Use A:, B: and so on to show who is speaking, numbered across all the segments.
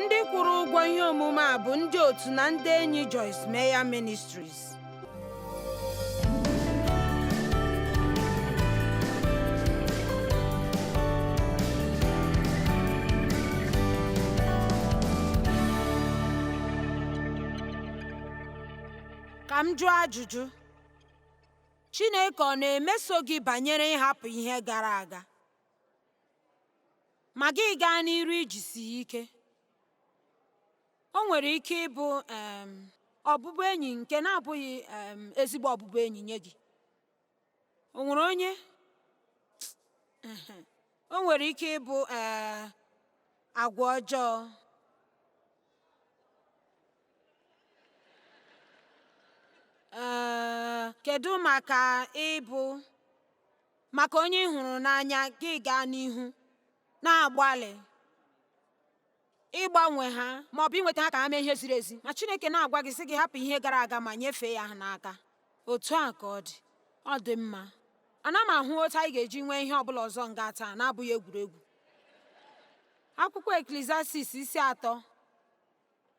A: ndị kwụrụ ụgwọ ihe omume a bụ ndị otu na ndị enyi Joyce Meyer Ministries ka m jụọ ajụjụ Chineke ọ na-emeso gị banyere ịhapụ ihe gara aga ma gị gaa n'iru ijisi ya ike o nwere ike ịbụ um ọbụbụenyi nke na-abụghị um ezigbo ọbụbụenyi nye gị o nwere onye o nwere ike ịbụ um agwa ọjọọ um kedu maka ịbụ maka onye ị hụrụ n'anya gị gaa n'ihu na-agbalị ịgbanwe ha ma ọ bụ inweta ha ka ha mee ihe ziri ezi ma Chineke na-agwa gị sị gị hapụ ihe gara aga ma nyefee ya ha n'aka otu a ka ọ dị ọ dị mma ana m ahụ otu anyị ga-eji nwee ihe ọbụla ọzọ nga taa na-abụghị egwuregwu akwụkwọ eklesiastis isi atọ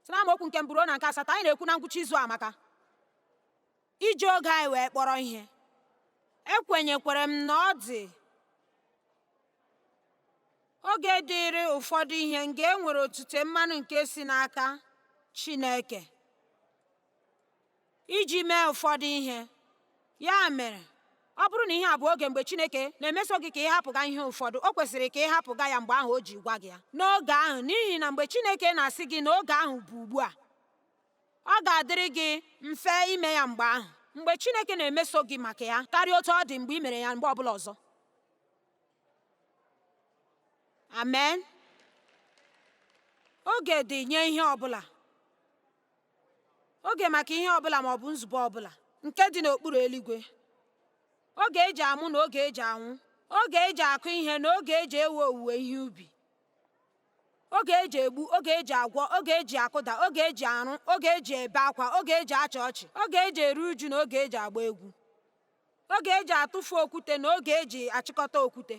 A: si na amaokwu nke mbụ ruo na nke asatọ anyị na-ekwu na ngwụcha izu a maka iji oge anyị wee kpọrọ ihe ekwenyekwara m na ọ dị oge dịịrị ụfọdụ ihe nga e nwere otute mmanụ nke si n'aka Chineke iji mee ụfọdụ ihe ya mere ọ bụrụ na ihe a bụ oge mgbe Chineke na-emeso gị ka ị hapụga ihe ụfọdụ o kwesịrị ka ị hapụga ya mgbe ahụ o ji gwa gị ya n'oge ahụ n'ihi na mgbe Chineke na-asị gị na oge ahụ bụ ugbu a ọ ga-adịrị gị mfe ime ya mgbe ahụ mgbe Chineke na-emeso gị maka ya karịa otu ọ dị mgbe ị mere ya mgbe ọbụla ọzọ amen oge dị nye ihe ọbụla oge maka ihe ọbụla ma ọ bụ nzube ọbụla nke dị n'okpuru eluigwe oge eji amụ na oge eji anwụ oge eji akụ ihe na oge eji ewe owuwe ihe ubi oge e ji egbu oge e ji agwọ oge e ji akụda oge e ji arụ oge e ji ebe akwa oge e ji achị ọchị oge e ji eru uju na oge e ji agba egwu oge e ji atụfu okwute na oge e ji achịkọta okwute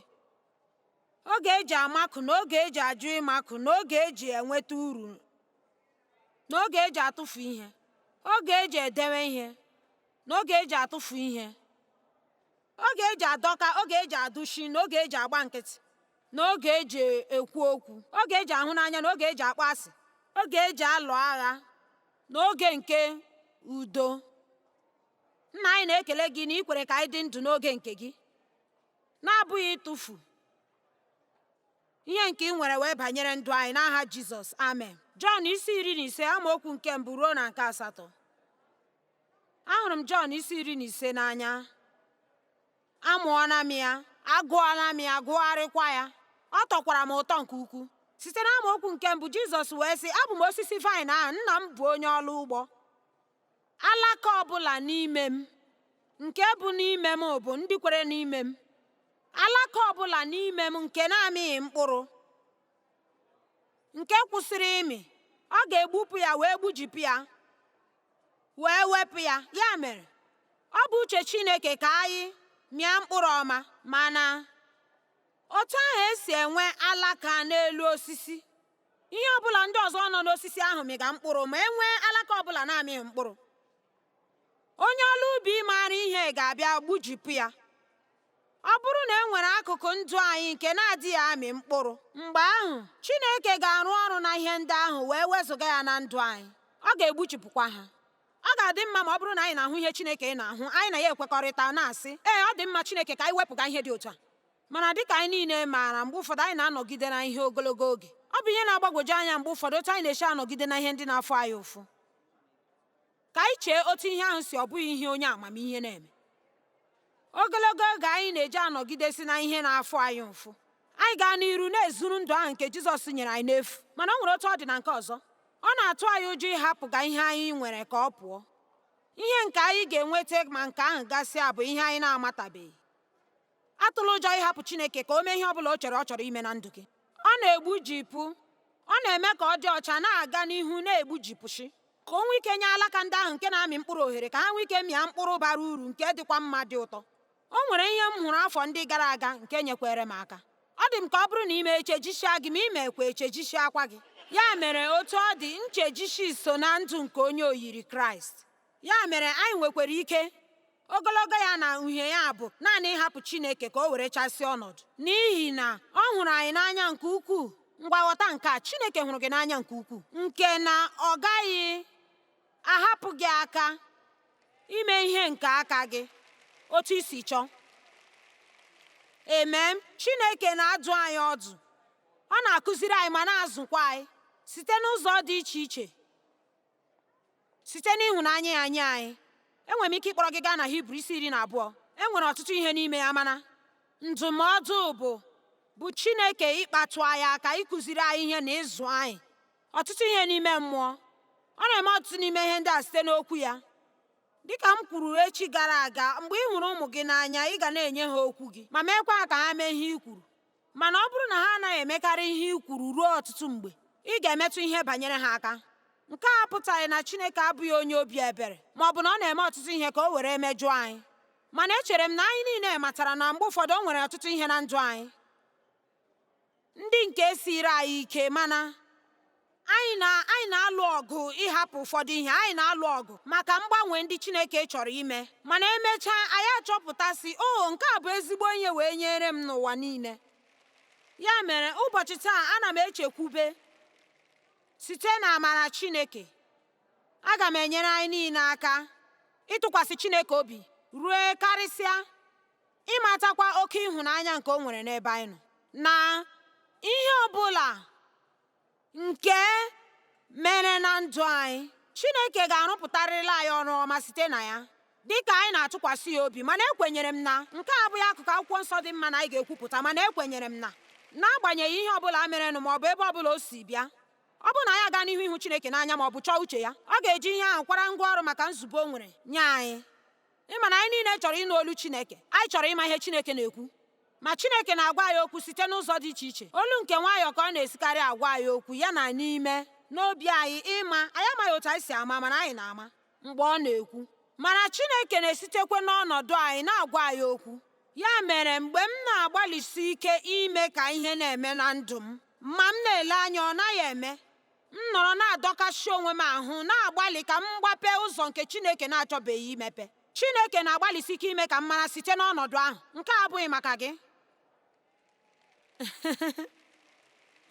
A: oge e ji amakụ na oge e ji ajụ ịmakụ na oge e ji enweta uru na oge e ji atụfu ihe oge e ji edewe ihe na oge e ji atụfu ihe oge e ji adọka oge e ji adụshi na oge e ji agba nkịtị na oge e ji ekwu okwu, oge e ji ahụ n'anya na oge e ji akpọ asị, oge e ji alụ agha na oge nke udo. Nna anyị na-ekele gị na i kwere ka anyị dị ndụ n'oge nke gị, na-abụghị ịtụfu ihe nke i nwere wee banyere ndụ anyị n'aha Jizọs amen. Jọn isi iri na ise amaokwu nke mbụ ruo na nke asatọ ahụrụ m Jọn isi iri na ise n'anya Amụọla m ya, agụọla m ya, gụgharịkwa ya. Ọ tọkwara m ụtọ nke ukwuu. Site n'amaokwu nke mbụ, Jizọs wee sị, Abụ m osisi vaịn ahụ, nna m bụ onye ọrụ ugbo. Alaka ọ bụla n'ime m, nke bụ n'ime m bụ ndị kwere n'ime m. Alaka ọ bụla n'ime m nke na-amịghị mkpụrụ, nke kwụsịrị ịmị, ọ ga-egbupụ ya wee gbujipụ ya. wee wepụ ya ya mere ọ bụ uche Chineke ka anyị mịa mkpụrụ ọma mana otu ahụ esi enwe alaka n'elu osisi ihe ọbụla ndị ọzọ nọ n'osisi ahụ mịga mkpụrụ ma e nwee alaka ọbụla na-amịghị mkpụrụ onye ọrụ ubi maara ihe ga-abịa gbujipụ ya Ọ bụrụ na e nwere akụkụ ndụ anyị nke na-adịghị amị mkpụrụ, mgbe ahụ Chineke ga-arụ ọrụ na ihe ndị ahụ wee wezụga ya na ndụ anyị, ọ ga-egbuchipụkwa ha. Ọ ga-adị mma ma ọ bụrụ na anyị na-ahụ ihe Chineke na-ahụ, anyị na ya ekwekọrịta, na-asị, Ee, ọ dị mma Chineke ka anyị wepụga ihe dị otu a. Mana dịka anyị niile maara, mgbe ụfọdụ anyị na-anọgide na ihe ogologo oge. Ọ bụ ihe na-agbagwoju anya mgbe ụfọdụ otu anyị na-esi anọgide na ihe ndị na-afụ anyị ụfụ. Ka anyị chee otu ihe ahụ si ọ bụghị ihe onye amamihe na-eme. Ogologo oge anyị na-eji anọgidesi na ihe na-afụ anyị ụfụ, anyị gaa n'iru na-ezuru ndụ ahụ nke Jizọs nyere anyị n'efu. Mana o nwere otu ọ dị na nke ọzọ. Ọ na-atụ anyị ụjọ ịhapụga ihe anyị nwere ka ọ pụọ. Ihe nke anyị ga-enweta ma nke ahụ gasịa bụ ihe anyị na-amatabeghị. atụla ụjọ ịhapụ Chineke ka o mee ihe ọ bụla o chere ọ chọrọ ime na ndụ gị ọ na-egbujipụ ọ na-eme ka ọ dị ọcha na-aga n'ihu na-egbujipụshị ka o nwee ike nye alaka ndị ahụ nke na-amị mkpụrụ ohere ka ha nwee ike mịa mkpụrụ bara uru nke dịkwa mma dị ụtọ o nwere ihe m hụrụ afọ ndị gara aga nke nyekwere m aka ọ dị m ka ọ bụrụ na i mee echejisia gị ma i meekwe echejisiakwa gị ya mere otu ọ dị nchejishi so na ndụ nke onye oyiri kraịst Ya mere anyị nwekwara ike ogologo ya na uhie ya bụ naanị ịhapụ Chineke ka o werechasịa ọnọdụ n'ihi na ọ hụrụ anyị n'anya nke ukwuu ngwa ghọta nke a Chineke hụrụ gị n'anya nke ukwuu nke na ọ gaghị ahapụ gị aka ime ihe nke aka gị otu i si chọọ amen Chineke na-adụ anyị ọdụ ọ na-akụziri anyị ma na-azụkwa anyị site n'ụzọ dị iche iche Site n'ịhụnanya ya nye anyị, enwere m ike ịkpọrọ gị gaa na Hibru isi iri na abụọ. E nwere ọtụtụ ihe n'ime ya mana ndụmọdụ bụ bụ Chineke ịkpatụ anyị aka ịkụziri anyị ihe na ịzụ anyị ọtụtụ ihe n'ime mmụọ. Ọ na-eme ọtụtụ n'ime ihe ndị a site n'okwu ya. Dịka m kwuru echi gara aga, mgbe ị hụrụ ụmụ gị n'anya, ị ga na-enye ha okwu gị ma meekwa ka ha mee ihe i kwuru. Mana ọ bụrụ na ha anaghị emekarị ihe i kwuru ruo ọtụtụ mgbe, ị ga-emetụ ihe banyere ha aka. Nke a apụtaghị na Chineke abụghị onye obi ebere ma ọ bụ na ọ na-eme ọtụtụ ihe ka o were mejụọ anyị. Mana echere m na anyị niile matara na mgbe ụfọdụ o nwere ọtụtụ ihe na ndụ anyị ndị nke siiri anyị ike mana anyị na-alụ ọgụ ịhapụ ụfọdụ ihe anyị na-alụ ọgụ maka mgbanwe ndị Chineke chọrọ ime mana emechaa anyị achọpụtasị oh, nke a bụ ezigbo ihe wee nyere m n'ụwa niile ya mere ụbọchị taa ana m echekwube site na amara Chineke aga m enyere anyị niile aka ịtụkwasị Chineke obi ruo karịsịa ịmatakwa oke ịhụnanya nke o nwere n'ebe anyị nọ na ihe ọ bụla nke mere na ndụ anyị Chineke ga-arụpụtarịrịla anyị ọrụ ọma site na ya dị ka anyị na-atụkwasị ya obi mana ekwenyere m na nke a abụghị akụkụ akwụkwọ nsọ dị mma na anyị ga-ekwupụta mana ekwenyere m na n'agbanyeghị ihe ọbụla merenụ ma ọ bụ ebe ọbụla o si bịa ọ bụrụ na anyị aga n'ihu ịhụ Chineke n'anya ma ọ bụ chọọ uche ya ọ ga-eji ihe ahụ kwara ngwa ọrụ maka nzube o nwere nye anyị ị ma na anyị niile chọrọ ịnụ olu Chineke anyị chọrọ ịma ihe Chineke na-ekwu ma Chineke na-agwa anyị okwu site n'ụzọ dị iche iche olu nke nwayọọ ka ọ na-esikarị agwa anyị okwu ya na n'ime n'obi anyị ị ma anyị amaghị otu anyị si ama mana anyị na-ama mgbe ọ na-ekwu mana Chineke na-esitekwa n'ọnọdụ anyị na-agwa anyị okwu ya mere mgbe m na-agbalịsi ike ime ka ihe na-eme na ndụ m ma m na-ele anya ọ naghị eme m nọrọ na-adọkasị onwe m ahụ na-agbalị ka m gbapee ụzọ nke Chineke na-achọbeghị imepe Chineke na-agbalịsi ike ime ka m mara site n'ọnọdụ ahụ nke a abụghị maka gị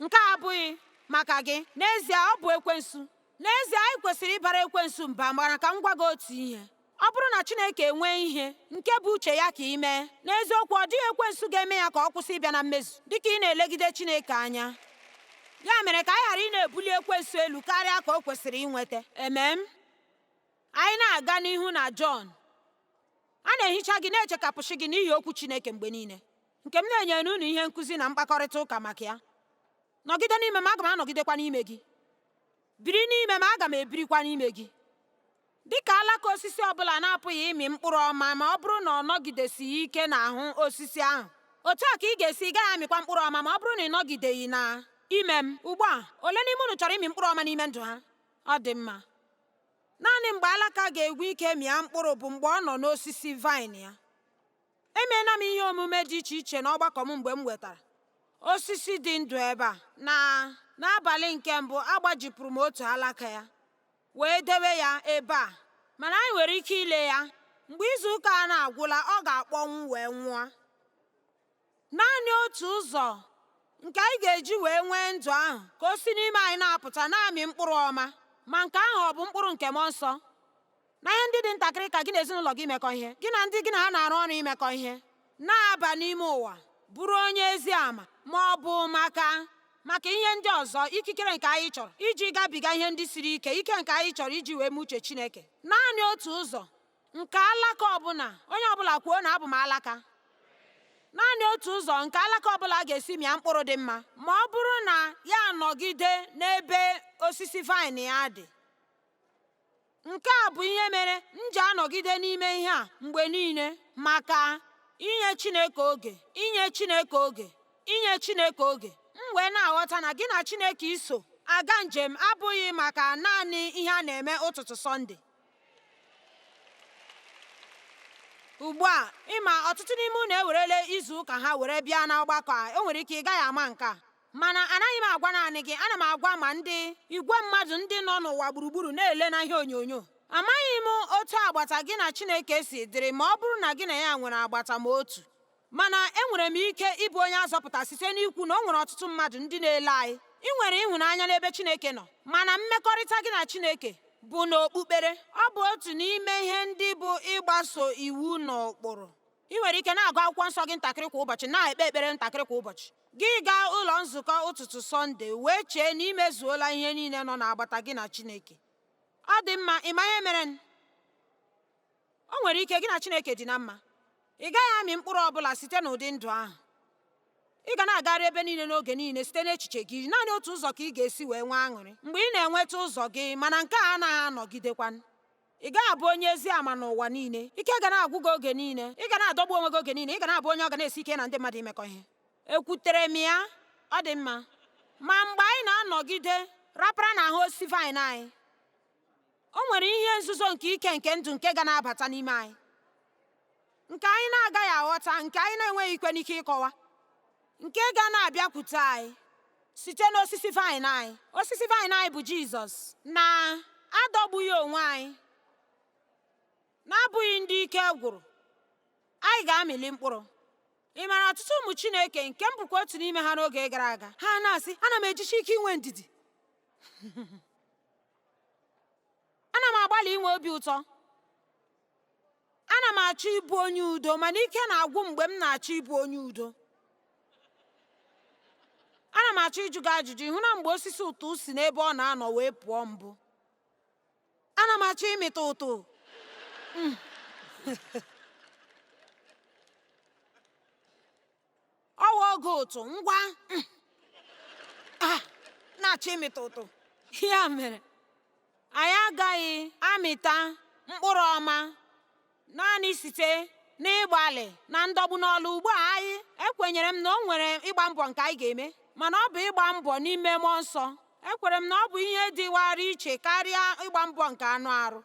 A: nke a abụghị maka gị n'ezie ọ bụ ekwensu n'ezie anyị kwesịrị ịbara ekwensu mba mana ka m gwa gị otu ihe Ọ bụrụ na Chineke enwee ihe nke bụ uche ya ka i mee, n'eziokwu ọ dịghị ekwensu ga-eme ya ka ọ kwụsị ịbịa na mmezu dị ka ị na-elegide Chineke anya. Ya mere ka anyị ghara ịna-ebuli ekwensu elu karịa ka o kwesịrị inweta. Amen. Anyị na-aga n'ihu na Jọn. A na-ehicha gị na-echekapụsị gị n'ihi okwu Chineke mgbe niile, nke m na-enyere unu ihe nkụzi na mkpakọrịta ụka maka ya. Nọgide n'ime m, aga m anọgidekwa n'ime gị. Biri n'ime m, aga m ebirikwa n'ime gị. Dị ka alaka osisi ọ bụla na-apụghị ịmị mkpụrụ ọma ma ọ bụrụ na ọ nọgidesighị ike n'ahụ osisi ahụ, otu a ka ị ga-esi ị gaghị amịkwa mkpụrụ ọma ma ọ bụrụ na ị nọgideghị na ime m. Ugbu a, ole n'ime unu chọrọ ịmị mkpụrụ ọma n'ime ndụ ha? Ọ dị mma. Naanị mgbe alaka ga-enwe ike mịa mkpụrụ bụ mgbe ọ nọ n'osisi vaịn ya. Emeela m ihe omume dị iche iche n'ọgbakọ m mgbe m wetara osisi dị ndụ ebe a, na n'abalị nke mbụ agbajipụrụ m otu alaka ya. wee debe ya ebe a mana anyị nwere ike ile ya mgbe izu ụka a na-agwụla ọ ga-akpọnwụ wee nwụọ naanị otu ụzọ nke anyị ga-eji wee nwee ndụ ahụ ka o si n'ime anyị na-apụta na-amị mkpụrụ ọma ma nke ahụ ọ bụ mkpụrụ nke mmụọ nsọ na ihe ndị dị ntakịrị ka gị na ezinụlọ gị imekọ ihe gị na ndị gị na ha na-arụ ọrụ imekọ ihe na-aba n'ime ụwa bụrụ onye ezi ama ma ọ bụ maka maka ihe ndị ọzọ ikikere nke anyị chọrọ iji gabiga ihe ndị siri ike ike nke anyị chọrọ iji wee mee uche Chineke naanị otu ụzọ nke alaka ọbụla onye ọbụla kwuo na abụ m alaka naanị otu ụzọ nke alaka ọbụla ga-esi mịa mkpụrụ dị mma ma ọ bụrụ na ya anọgide n'ebe osisi vaịn ya dị Nke a bụ ihe mere m ji anọgide n'ime ihe a mgbe niile maka inye Chineke oge, inye Chineke oge, inye Chineke oge. M wee na-aghọta na gị na Chineke iso aga njem abụghị maka naanị ihe a na-eme ụtụtụ Sọnde. Ugbu a, ị ma ọtụtụ n'ime unu ewerele izu ụka ha were bịa n'ọgbakọ a, o nwere ike ị gaghị ama nke a. Mana anaghị m agwa naanị gị, ana m agwa ma ndị igwe mmadụ ndị nọ n'ụwa gburugburu na-ele na ihe onyonyo. Amaghị m otu agbata gị na Chineke si dịrị ma ọ bụrụ na gị na ya nwere agbata ma otu. Mana enwere m ike ịbụ onye azọpụta site n'ikwu na o nwere ọtụtụ mmadụ ndị na-ele anyị. I nwere ịhụnanya n'ebe Chineke nọ, mana mmekọrịta gị na Chineke bụ n'okpukpere. Ọ bụ otu n'ime ihe ndị bụ ịgbaso iwu na ụkpụrụ. I nwere ike na-agụ akwụkwọ nsọ gị ntakịrị kwa ụbọchị na-ekpe ekpere ntakịrị kwa ụbọchị gị gaa ụlọ nzukọ ụtụtụ Sọnde wee chee na i mezuola ihe niile nọ n'agbata gị na Chineke ọ dị mma ị ma ihe mere o nwere ike gị na Chineke dị na mma ị gaghị amị mkpụrụ ọ bụla site n'ụdị ndụ ahụ ị ga na-agagharị ebe niile n'oge niile site n'echiche gị naanị otu ụzọ ka ị ga-esi wee nwee aṅụrị mgbe ị na-enweta ụzọ gị mana nke a anaghị anọgidekwa ị gaghị abụ onye ezi ama n'ụwa niile ike ga na-agwụ gị oge niile ị ga na-adọgbu onwe gị oge niile ị ga na-abụ onye ọ ga na-esi ike na ndị mmadụ imekọ ihe ekwutere m ya ọ dị mma ma mgbe anyị na-anọgide rapara n'ahụ osisi vaịn anyị o nwere ihe nzuzo nke ike nke ndụ nke ga na-abata n'ime anyị nke anyị na-agaghị aghọta nke anyị na-enweghị ikwe n'ike ịkọwa nke ga na-abịakwute anyị site n'osisi vaịn anyị osisi vaịn anyị bụ jizọs na-adọgbughị onwe anyị na-abụghị ndị ike gwụrụ anyị ga-amịli mkpụrụ ị maara ọtụtụ ụmụ chineke nke m bụkwa otu n'ime ha n'oge gara aga ha na-asị ana m ejisi ike inwe ndidi ana m agbalị inwe obi ụtọ Ana m achọ ịbụ onye udo mana ike na-agwụ mgbe m na-achọ ịbụ onye udo. Ana m achọ ịjụ gị ajụjụ ị hụna mgbe osisi ụtụ si n'ebe ọ na-anọ wee pụọ mbụ ana m achọ ịmịta ụtụ ọ wụ oge ụtụ ngwa mm, ah, na-achọ ịmịta ụtụ ya mere anyị agaghị amịta mkpụrụ ọma naanị site n'ịgbalị na ndọgbu n'ọlụ ugbu a anyị ekwenyere m na o nwere ịgba mbọ nke anyị ga-eme mana ọ bụ ịgba mbọ n'ime mmụọ nsọ ekwere m na ọ bụ ihe dịwara iche karịa ịgba mbọ nke anụ arụ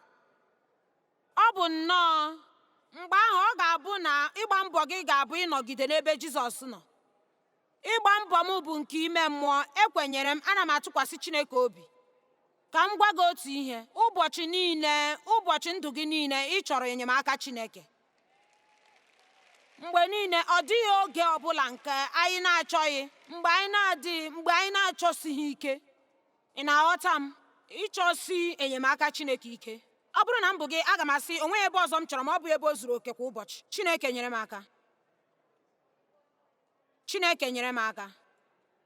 A: Ọ bụ nnọọ mgbe ahụ ọ ga-abụ na ịgba mbọ gị ga-abụ ịnọgide n'ebe Jizọs nọ. Ịgba mbọ m bụ nke ime mmụọ, ekwenyere m, ana m atụkwasị Chineke obi. Ka m gwa gị otu ihe, ụbọchị niile, ụbọchị ndụ gị niile, ị chọrọ enyemaka Chineke. Mgbe niile, ọ dịghị oge ọ bụla nke anyị na-achọghị, mgbe anyị na-adịghị, mgbe anyị na-achọsighị ike. Ị na-aghọta m ịchọsi enyemaka Chineke ike? Ọ bụrụ na m bụ gị, aga m asị o nweghị ebe ọzọ m chọrọ ma ọ bụ ebe o zuru oke kwa ụbọchị. Chineke nyere m aka. Chineke nyere m aka.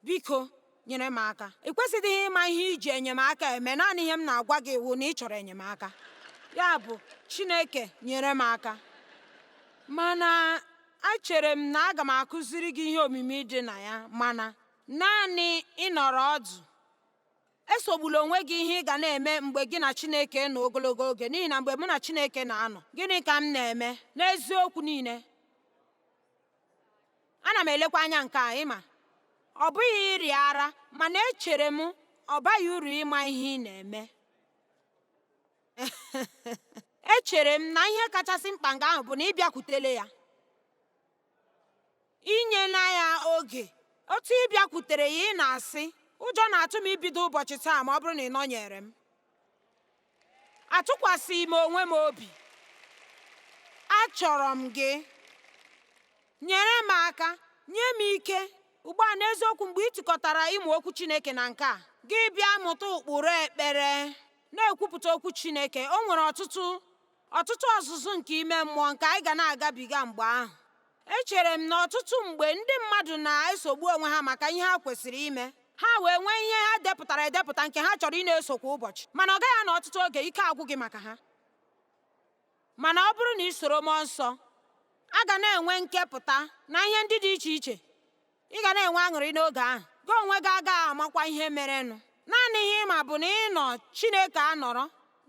A: Biko, nyere m aka. Ị kwesịdịghị ịma ihe i ji enyemaka eme, naanị ihe m na-agwa gị wụ na ị chọrọ enyemaka. Ya bụ, Chineke nyere m aka. Mana echere m na aga m akụziri gị ihe omimi dị na ya mana Naanị ịnọrọ ọdụ. Esogbula onwe gị ihe ị ga na-eme mgbe gị na Chineke nọ ogologo oge n'ihi na mgbe mụ na Chineke na-anọ, gịnị ka m na-eme n'eziokwu niile? Ana m elekwa anya nke a ị ma ọ bụghị ịrịa ara mana echere m ọ baghị uru ịma ihe ị na-eme echere m na ihe kachasị mkpa nga ahụ bụ na ị bịakwutele ya i nyena ya oge otu ị bịakwutere ya ị na-asị ụjọ na-atụ m ibido ụbọchị taa ma ọ bụrụ na ị nọnyere m atụkwasịghị m onwe m obi achọrọ m gị nyere m aka nye m ike ugbu a n'eziokwu mgbe ị tikọtara ịmụ okwu Chineke na nke a gị bịa mụta ụkpụrụ ekpere na-ekwupụta okwu Chineke o nwere ọtụtụ ọtụtụ ọzụzụ nke ime mmụọ nke anyị ga na-agabiga mgbe ahụ echere m na ọtụtụ mgbe ndị mmadụ na-esogbu onwe ha maka ihe ha kwesịrị ime ha wee nwee ihe ha depụtara edepụta nke ha chọrọ ị na-eso kwa ụbọchị mana ọ gaghị anọ ọtụtụ oge ike agwụ gị maka ha mana ọ bụrụ na ị soro mmụọ nsọ a ga na-enwe nkepụta na ihe ndị dị iche iche Ị ga na-enwe aṅụrị n'oge ahụ, gị onwe gị agaghị amakwa ihe merenụ. Naanị ihe ị ma bụ na ị nọ Chineke anọrọ,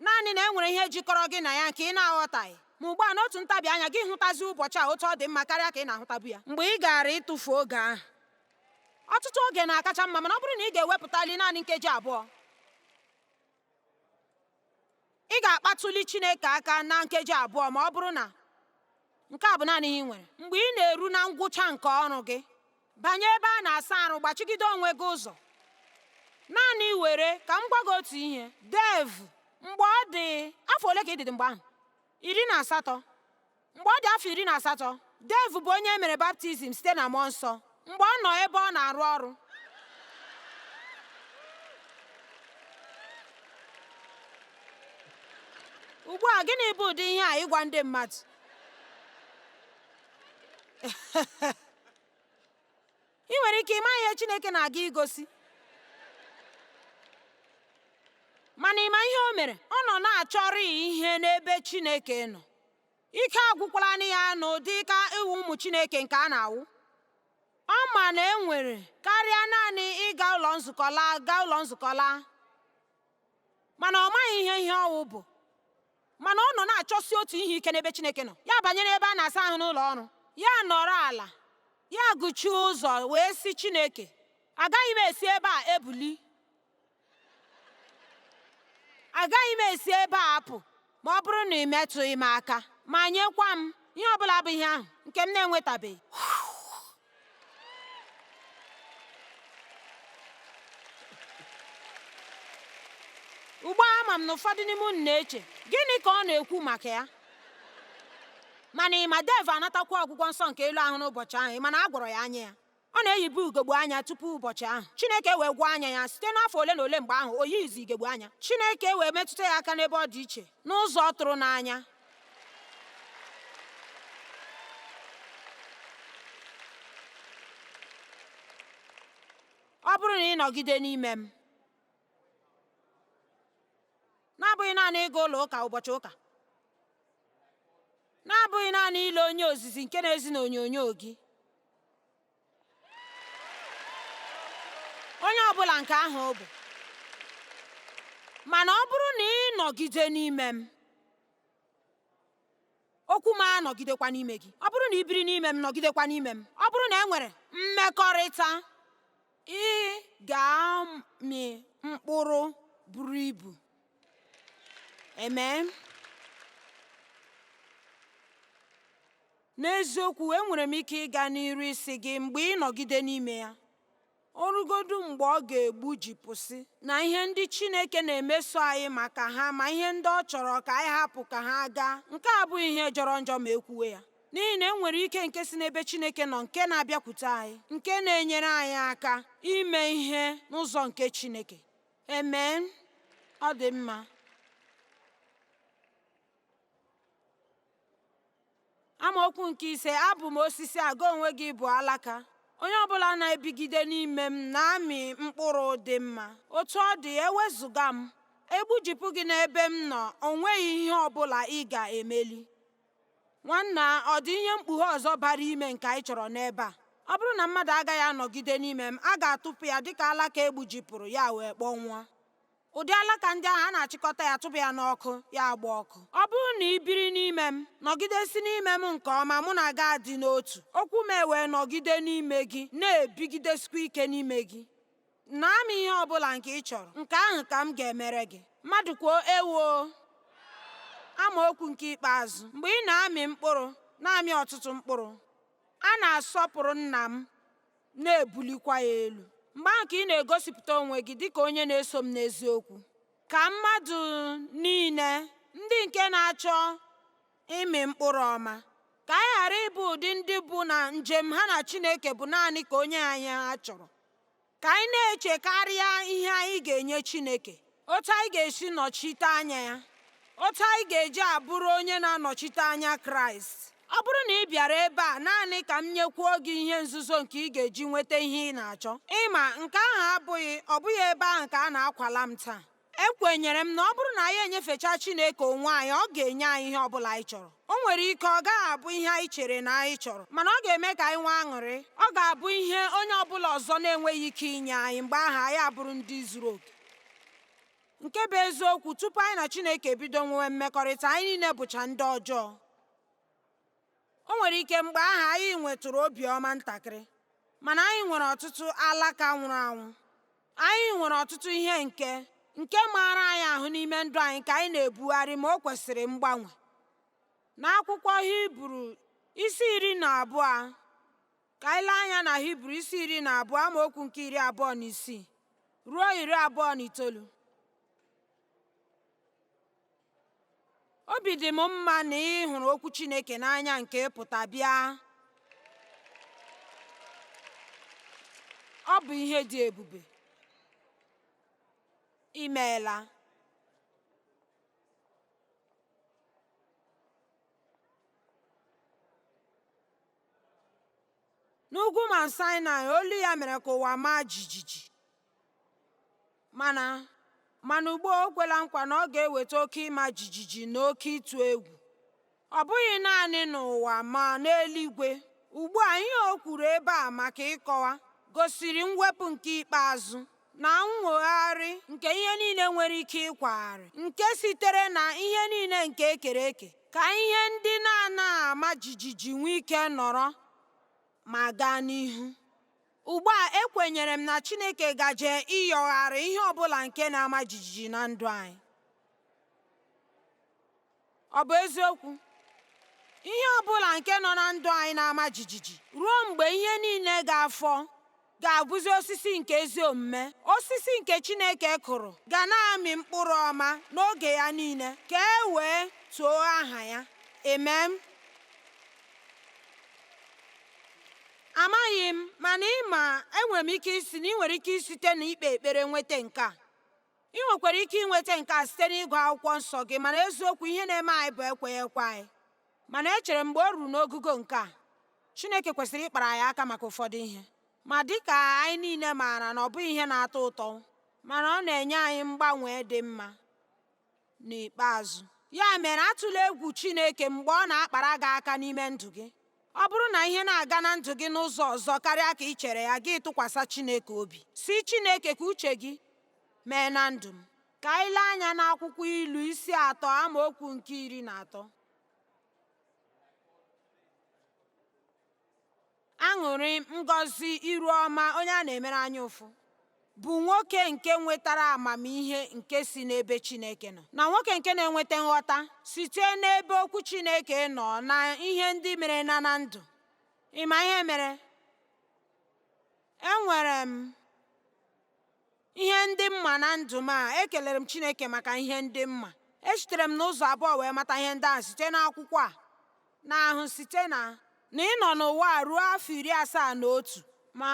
A: naanị na e nwere ihe jikọrọ gị na ya nke ị na-aghọtaghị. Ma ugbu a n'otu ntabi anya gị hụtazi ụbọchị a otu ọ dị mma karịa ka ị na-ahụtabu ya. Mgbe ị gaara ịtụfu oge ahụ, ọtụtụ oge na-akacha mma, mana ọ bụrụ na ị ga-ewepụtali naanị nkeji abụọ, ị ga-akpatụli Chineke aka na nkeji abụọ ma ọ bụrụ na nke a bụ naanị ihe ị nwere mgbe ị na-eru na ngwụcha nke ọrụ gị banye ebe a na-asa arụ gbachigide onwe gị ụzọ naanị were ka m gwa gị otu ihe Dave mgbe ọ dị afọ ole ka ị dịdị mgbe ahụ iri na asatọ Mgbe ọ dị afọ iri na asatọ, Dave bụ onye e mere baptizim site na mmụọ nsọ mgbe ọ nọ ebe ọ na-arụ ọrụ. Ugbu a, gịnị bụ ụdị ihe a ịgwa ndị mmadụ? ị nwere ike ịma ihe Chineke na-aga igosi mana ị ma ihe o mere ọ nọ na-achọrị ihe n'ebe Chineke nọ ike agwụkwala ya n'ụdị ka ịwụ ụmụ Chineke nke a na-awụ ọ ma na e nwere karịa naanị ịga ụlọ nzukọ laa gaa ụlọ nzukọ laa mana ọ maghị ihe ihe ọwụ bụ mana ọ nọ na-achọsi otu ihe ike n'ebe Chineke nọ ya banyere ebe a na-asa ahụ n'ụlọ ọrụ ya nọrọ ala ya gụchie ụzọ wee sị Chineke agaghị m esi ebe a ebuli agaghị m esi ebe a apụ ma ọ bụrụ na ị metụghị m aka ma nyekwa m ihe ọ bụla bụ ihe ahụ nke m na-enwetabeghị ugbu a ama m na ụfọdụ n'ime unu na-eche gịnị ka ọ na-ekwu maka ya mana ị ma Dave anatakwa ọgwụgwọ nsọ nke elu ahụ n'ụbọchị ahụ ị ma na a gwọrọ ya anya ya Ọ na-eyibu ugegbe anya tupu ụbọchị ahụ. Chineke wee gwọọ anya ya. Site n'afọ ole na ole mgbe ahụ, o yighịzi ugegbe anya. Chineke wee metụta ya aka n'ebe ọ dị iche, n'ụzọ tụrụ n'anya. Ọ bụrụ na ị nọgide n'ime m, na-abụghị naanị ịga ụlọ ụka ụbọchị ụka, na-abụghị naanị ile onye ozizi nke na-ezi n'onyonyo gị, onye ọbụla nke ahụ ọ bụ mana ọ bụrụ na ị nọgide n'ime m okwu m anọgidekwa n'ime gị ọ bụrụ na ị biri n'ime m nọgidekwa n'ime m ọ bụrụ na e nwere mmekọrịta ị ga-amị mkpụrụ buru ibu amen N'eziokwu, enwere m ike ịga n'iru ịsị gị mgbe ị nọgide n'ime ya, o rugodu mgbe ọ ga-egbujipụsị, na ihe ndị Chineke na-emeso anyị maka ha ma ihe ndị ọ chọrọ ka anyị hapụ ka ha gaa. Nke a abụghị ihe jọrọ njọ ma e kwuwe ya, n'ihi na e nwere ike nke si n'ebe Chineke nọ nke na-abịakwute anyị, nke na-enyere anyị aka ime ihe n'ụzọ nke Chineke. Amen. Ọ dị mma. Amaokwu nke ise abụ m osisi a gị onwe gị bụ alaka onye ọbụla na-ebigide n'ime m na-amị mkpụrụ dị mma otu ọ dị ewezụga m e gbujipụ gị n'ebe m nọ o nweghị ihe ọbụla ị ga-emeli nwanna ọ dị ihe mkpughe ọzọ bara ime nke anyị chọrọ n'ebe a ọ bụrụ na mmadụ agaghị anọgide n'ime m a ga-atụpụ ya dịka alaka e gbujipụrụ ya wee kpọnwụọ ụdị alaka ndị ahụ a na-achịkọta ya tụba ya n'ọkụ ya agba ọkụ ọ bụrụ na ị biri n'ime m nọgidesi n'ime m nke ọma mụ na gị adị n'otu okwu m ewee nọgide n'ime gị na-ebigidesikwa ike n'ime gị na m ihe ọ bụla nke ị chọrọ nke ahụ ka m ga-emere gị mmadụ kwuo ewoo amaokwu nke ikpeazụ mgbe ị na-amị mkpụrụ na-amị ọtụtụ mkpụrụ a na-asọpụrụ nna m na-ebulikwa ya elu mgbe ahụ ka ị na-egosipụta onwe gị dịka onye na-eso m n'eziokwu ka mmadụ niile ndị nke na-achọ ịmị mkpụrụ ọma ka anyị ghara ịbụ ụdị ndị bụ na njem ha na Chineke bụ naanị ka o nye anyị ha chọrọ ka anyị na-echekarịa ihe anyị ga-enye Chineke otu anyị ga-esi nọchite anya ya otu anyị ga-eji abụrụ onye na-anọchite anya kraịst ọ bụrụ na ị bịara ebe a naanị ka m nyekwuo gị ihe nzuzo nke ị ga-eji nweta ihe ị na-achọ ị ma nke ahụ abụghị ọ bụghị ebe ahụ ka a na-akwala m taa ekwenyere m na ọ bụrụ na anyị enyefecha chineke onwe anyị ọ ga-enye anyị ihe ọ bụla anyị chọrọ o nwere ike ọ gaghị abụ ihe anyị chere na anyị chọrọ mana ọ ga-eme ka anyị nwee aṅụrị ọ ga-abụ ihe onye ọbụla ọzọ na-enweghị ike inye anyị mgbe ahụ anyị abụrụ ndị zuru oke nke bụ eziokwu tupu anyị na chineke ebido nwewe mmekọrịta anyị niile bụcha ndị ọjọọ o nwere ike mgbe ahụ anyị nwetụrụ obiọma ntakịrị mana anyị nwere ọtụtụ alaka nwụrụ anwụ anyị nwere ọtụtụ ihe nke nke maara anyị ahụ n'ime ndụ anyị ka anyị na-ebugharị ma o kwesịrị mgbanwe n'akwụkwọ hibru isi iri na abụọ Ka anyị lee anya na Hibru isi iri na abụọ amaokwu nke iri abụọ na isii ruo iri abụọ na itoolu. Obi dị m mma na ị hụrụ okwu Chineke n'anya nke pụta bịa. Ọ bụ ihe dị ebube. I meela. n'ugwu Mount Sinai olu ya mere ka ụwa maa jijiji mana mana ugbu a o kwela nkwa na ọ ga-eweta oke ịma jijiji na oke ịtụ egwu ọ bụghị naanị n'ụwa ma n'eluigwe ugbu a ihe o kwuru ebe a maka ịkọwa gosiri mwepụ nke ikpeazụ na nwogharị nke ihe niile nwere ike ịkwagharị nke sitere na ihe niile nke e kere eke ka ihe ndị na-anaghị ama jijiji nwee ike nọrọ ma gaa n'ihu ugbu a ekwenyere m na Chineke gaje ịyọgharị ihe ọbụla nke na-ama jijiji na ndụ anyị Ọ bụ eziokwu, ihe ọ bụla nke nọ na ndụ anyị na-ama jijiji ruo mgbe ihe niile ga-afọ ga-abụzi osisi nke ezi omume. Osisi nke Chineke kụrụ ga na-amị mkpụrụ ọma n'oge ya niile ka e wee too aha ya. Amen. Amaghị m, mana ị ma, enwere m ike ịsị na ị nwere ike isite na ikpe ekpere nweta nke a. Ị nwekwara ike inweta nke a site n'ịgụ akwụkwọ nsọ gị mana eziokwu ihe na-eme anyị bụ ekweghị ekwe anyị mana echere m mgbe o ruru n'ogugo nke a Chineke kwesịrị ịkpara anyị aka maka ụfọdụ ihe ma dịka anyị niile maara na ọ bụghị ihe na-atọ ụtọ mana ọ na-enye anyị mgbanwe dị mma N'ikpeazụ, ya mere atụla egwu Chineke mgbe ọ na-akpara gị aka n'ime ndụ gị. Ọ bụrụ na ihe na-aga na ndụ gị n'ụzọ ọzọ karịa ka ị chere ya gị tụkwasị Chineke obi sị Chineke ka uche gị mee na ndụ m ka anyị lee anya n'akwụkwọ Ilu isi atọ amaokwu nke iri na atọ Aṅụrị, ngọzi, iru ọma onye a na-emere anya ụfụ bụ nwoke nke nwetara amamihe nke si n'ebe Chineke nọ na nwoke nke na-enweta nghọta site n'ebe okwu Chineke nọ na ihe ndị mere na na ndụ. Ị ma ihe mere? Enwere m ihe ndị m ma na ndụ m a ekelere m Chineke maka ihe ndị m ma esitere m n'ụzọ abụọ wee mata ihe ndị ahụ site n'akwụkwọ a na ahụ site na na ịnọ n'ụwa a ruo afọ iri asaa na otu ma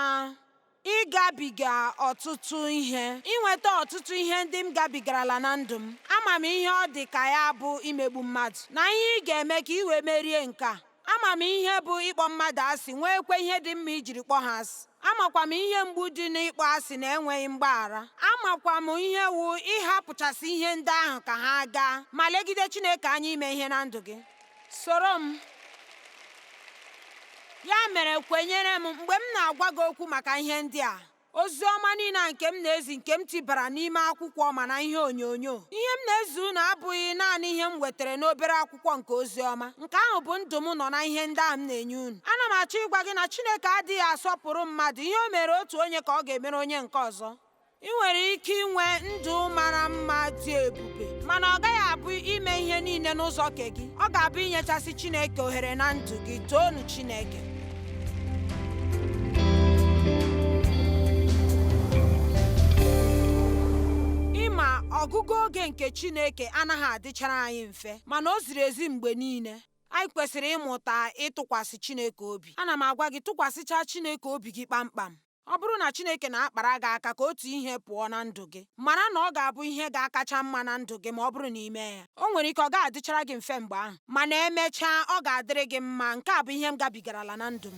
A: ịgabiga ọtụtụ ihe inweta ọtụtụ ihe ndị m gabigarala na ndụ m ama m ihe ọ dị ka ya bụ imegbu mmadụ na ihe ị ga-eme ka ị wee merie nke a Ama m ihe bụ ịkpọ mmadụ asị, nweekwa ihe dị mma ijiri kpọọ ha asị. Amakwa m ihe mgbu dị n'ịkpọ asị na enweghị mgbaghara. Amakwa m ihe wụ ịhapụchasị ihe ndị ahụ ka ha gaa ma legide Chineke anya ime ihe na ndụ gị. Soro m. Ya mere kwenyere m mgbe m na-agwa gị okwu maka ihe ndị a. ozi ọma niile a nke m na-ezi nke m tibara n'ime akwụkwọ ma na ihe onyonyo ihe m na-ezi unu abụghị naanị ihe m wetara n'obere akwụkwọ nke ozi ọma nke ahụ bụ ndụ m nọ na ihe ndị ahụ m na-enye unu ana m achọ ịgwa gị na Chineke adịghị asọpụrụ mmadụ ihe o mere otu onye ka ọ ga-emere onye nke ọzọ i nwere ike inwe ndụ mara mma dị ebube mana ọ gaghị abụ ime ihe niile n'ụzọ nke gị ọ ga-abụ inyechasị Chineke ohere na ndụ gị toonu Chineke ịma ọgụgụ oge nke Chineke anaghị adịchara anyị mfe mana o ziri ezi mgbe niile anyị kwesịrị ịmụta ịtụkwasị Chineke obi ana m agwa gị tụkwasịcha Chineke obi gị kpamkpam Ọ bụrụ na Chineke na-akpara gị aka ka otu ihe pụọ na ndụ gị, mara na ọ ga-abụ ihe ga-akacha mma na ndụ gị ma ọ bụrụ na i mee ya. O nwere ike ọ gaghị adịchara gị mfe mgbe ahụ, mana emechaa ọ ga-adịrị gị mma. Nke a bụ ihe m gabigarala na ndụ m.